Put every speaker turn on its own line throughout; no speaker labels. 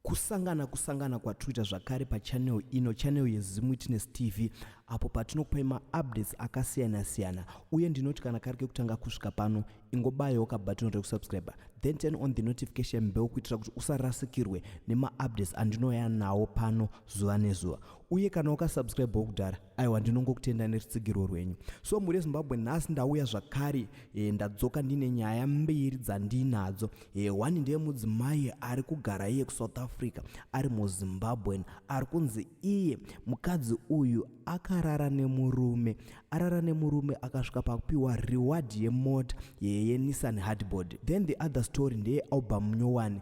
Kusangana kusangana kwatruita zvakare pachannel ino channel yeZim Witness TV apo patinokupai maupdates akasiyana siyana uye ndinoti kana kari kekutanga kusvika pano ingobayawo kabhatoni rekusubscriber then turn on the notification bell kuitira kuti usarasikirwe nemaupdates andinouya nawo pano zuva nezuva uye kana wakasubscribewo kudhara aiwa ndinongokutenda nerutsigirwo rwenyu so mhuri yezimbabwe nhasi ndauya zvakare e, ndadzoka ndine nyaya mbiri dzandinadzo e, eh, one ndeye mudzimai ari kugara iye kusouth africa ari muzimbabwen ari kunzi iye mukadzi uyu akarara nemurume arara nemurume akasvika pakupiwa reward yemota yenissan hardboard then the other story ndeye album nyowani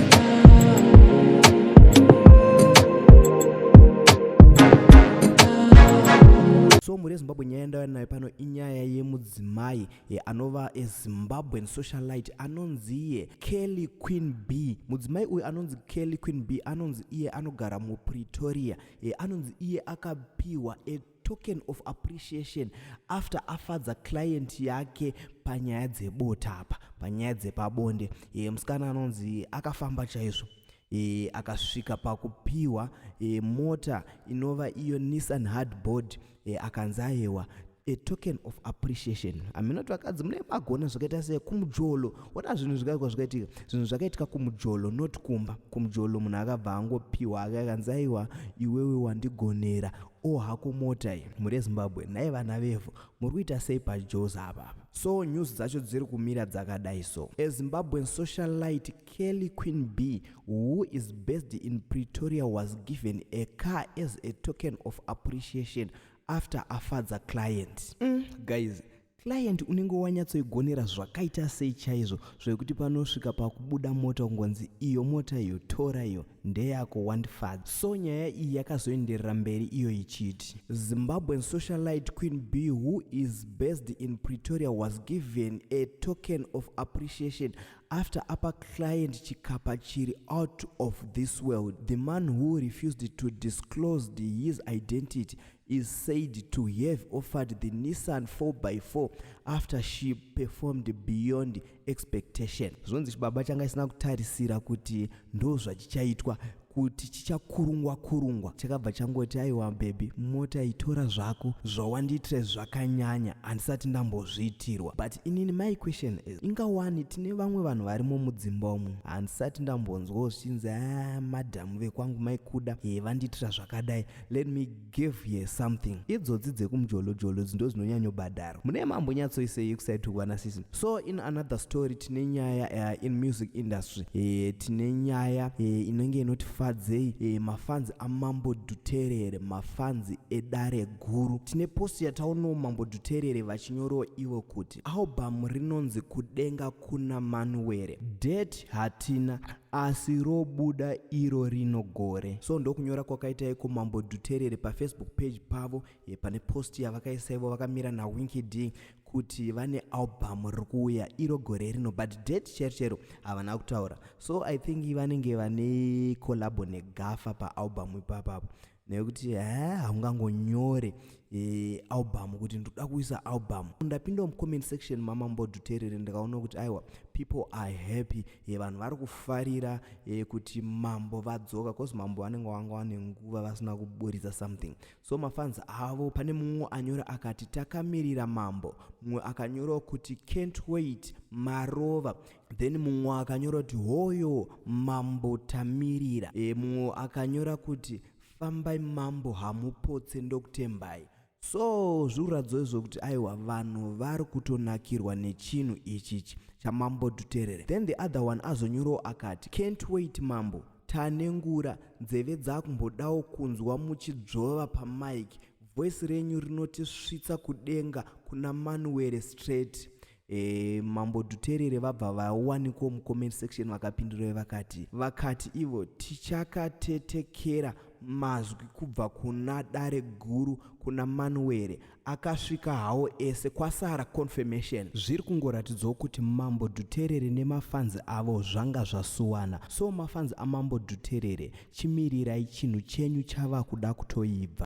mhuri yezimbabwe nyaya yandava nayo pano inyaya yemudzimai anova zimbabwean socialite anonzi iye kelly queen b mudzimai uyu anonzi kelly queen b anonzi iye anogara mupretoria anonzi iye akapiwa token of appreciation after afadza client yake panyaya dzebota apa panyaya dzepabonde e, musikana anonzi akafamba chaizvo e, akasvika pakupiwa e, mota inova iyo nissan hardboard e, akanzi ayewa a token of appreciation hamina kuti vakadzi mune magona zvakaita sei kumujolo ona zvinhu zvikaikwa zvakaitika zvinhu zvakaitika kumujolo not kumba kumujolo munhu akabva angopiwa akakanzaiwa iwewe wandigonera o hako mota iyi muri ezimbabwe nhai vana vevhu muri kuita sei pajoes apa so news dzacho dziri kumira dzakadai so ezimbabwen socialite kelly queen b who is based in pretoria was given a car as a token of appreciation after afadza client mm, guys Client unenge wanyatsoigonera zvakaita sei chaizvo zvekuti panosvika pakubuda mota kungonzi iyo mota iyo tora iyo ndeyako wandifadza. So nyaya iyi yakazoenderera mberi iyo ichiti Zimbabwean socialite Queen B who is based in Pretoria was given a token of appreciation after apa client chikapa chiri out of this world. The man who refused to disclose his identity is said to have offered the Nissan 4x4 after she performed beyond expectation. Zvonzi chibaba changa isina kutarisira kuti ndozvachichaitwa kuti chichakurungwa kurungwa chakabva changoti aiwa bebi mota itora zvako zvawandiitira zvakanyanya handisati ndambozviitirwa but inini my question is ingawani tine vamwe vanhu varimo mudzimba umu handisati ndambonzwawo zvichinzi a ah, madhamu vekwangu maikuda ye vandiitira zvakadai let me give ye something idzodzi dzekumjolojolo dzindo dzinonyanyobhadhara mune mambo nyatsoisei kusaitukwa nasisi so in another story tine nyaya uh, in music industry e, tine nyaya e, inenge inoti fadzei e, mafanzi amambo dhuterere mafanzi edare guru tine posti yataonawo mambo dhuterere vachinyoroo ivo kuti Album rinonzi kudenga kuna Manuwere. Date hatina asi robuda iro rino gore. So ndokunyora kwakaita iko Mambo Dhuterere paFacebook page pavo ye pane post yavakaisa ivo vakamira naWinky D kuti vane album rikuuya iro gore rino but date chero chero havana kutaura. So I think vanenge vane collabo negafa paalbum ipapapo. nekuti haa haungangonyore e, album kuti ndoda kuisa album ndapinda mucomment section mamambodhuterere ndikaona kuti aiwa people are happy e, vanhu vari kufarira e, kuti mambo vadzoka bcause mambo vanenge vanga vane nguva vasina kuburitsa something so mafans avo pane mumwe anyora akati takamirira mambo mumwe akanyorawo kuti can't wait marova then mumwe akanyora kuti hoyo mambo tamirira e, mumwe akanyora kuti fambai mambo hamupotse ndokutembai so zviruradzo izvo kuti aiwa vanhu vari kutonakirwa nechinhu ichichi chamambo duterere then the other one azonyorawo akati can't wait mambo tanengura nzeve dzakumbodawo kunzwa muchidzvova pamike voice renyu rinotisvitsa kudenga kuna manuwere straight E, mambo Dhuterere vabva vawanikwa mucomment section vakapindura vakati vakati ivo tichakatetekera mazwi kubva kuna dare guru kuna manuwere akasvika hawo ese kwasara confirmation zviri kungoratidzawo kuti mambo dhuterere nemafanzi avo zvanga zvasuwana so mafanzi amambo dhuterere chimirirai chinhu chenyu chava kuda kutoibva